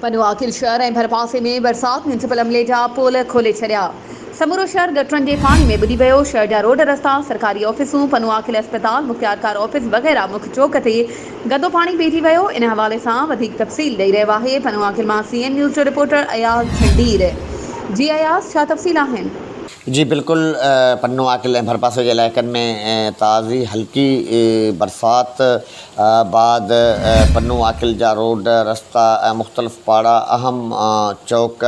پنو عاقل شهر ۽ ڀرپاسي ۾ برسات ميونسپل عملي جا پول کولي ڇڏيا، سمورو شهر گٽرن جي پاڻي ۾ ٻڏي ويو، شهر جا روڊ رستا، سرڪاري آفيسون، پنو عاقل اسپتال، مختيارڪار آفيس وغيره مک چوڪ تي گندو پاڻي بيهجي ويو، ان حوالي سان وڌيڪ تفصيل ڏئي رهيو آهي پنو عاقل مان سي اين نيوز جو رپورٽر اياز جھنڊير جي اياز ڇا تفصيل آهن؟ جي بلڪل پنو عاقل ۽ ڀرپاسي جي علائقن ۾ تازي هلڪي برسات بعد پنو عاقل جا روڊ رستا ۽ مختلف پاڙا اهم چوڪ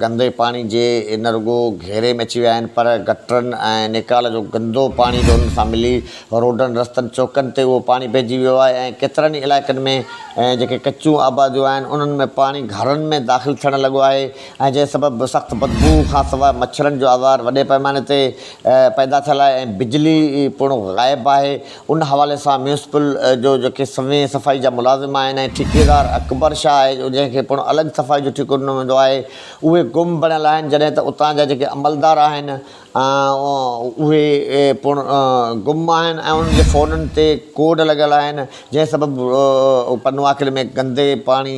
گندي پاڻي جي نه رڳو گهيري ۾ اچي ويا آهن پر گٽرن ۽ نيڪال جو گندو پاڻي به انهن سان ملي روڊن رستن چوڪن تي اهو پاڻي پئجي ويو آهي ۽ ڪيترن ئي علائقن ۾ جيڪي ڪچيون آباديون آهن انهن ۾ پاڻي گهرن ۾ داخل ٿيڻ لڳو آهي ۽ جنهن سبب سخت بدبو کان سواء مڇرن جو آزار وڏي پئماني تي پيدا ٿيل آهي ۽ بجلي پڻ غائب آهي ان حوالي سان ميونسپل جو جيڪي سوين صفائي جا ملازم آهن ۽ ٺيڪيدار اڪبر شاهه آهي جو جنهن کي پڻ الڳ صفائي جو ٺيڪو ڏنو ويندو آهي اهي گم بڻيل آهن جڏهن ته اتان جا جيڪي عملدار آهن اهي پڻ گم آهن ۽ انهن جي فونن تي ڪوڊ لڳل آهن جنهن سبب پنواڪل ۾ گندي پاڻي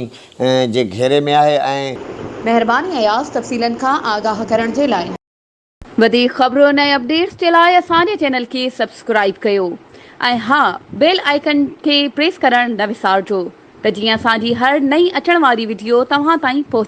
جي گهيري ۾ آهي ۽ مهرباني اياز تفصيلن کان آگاهه ڪرڻ جي لاء. وڌيڪ خبرن ۽ اپڊيٽس جي لاء اسان جي چينل کي سبسڪرائيب ڪيو ۽ ها بيل آئيڪن کي پريس ڪرڻ نه وسارجو ته جيئن اسان جي هر نئين اچڻ واري وڊيو توهان تائين پهچي.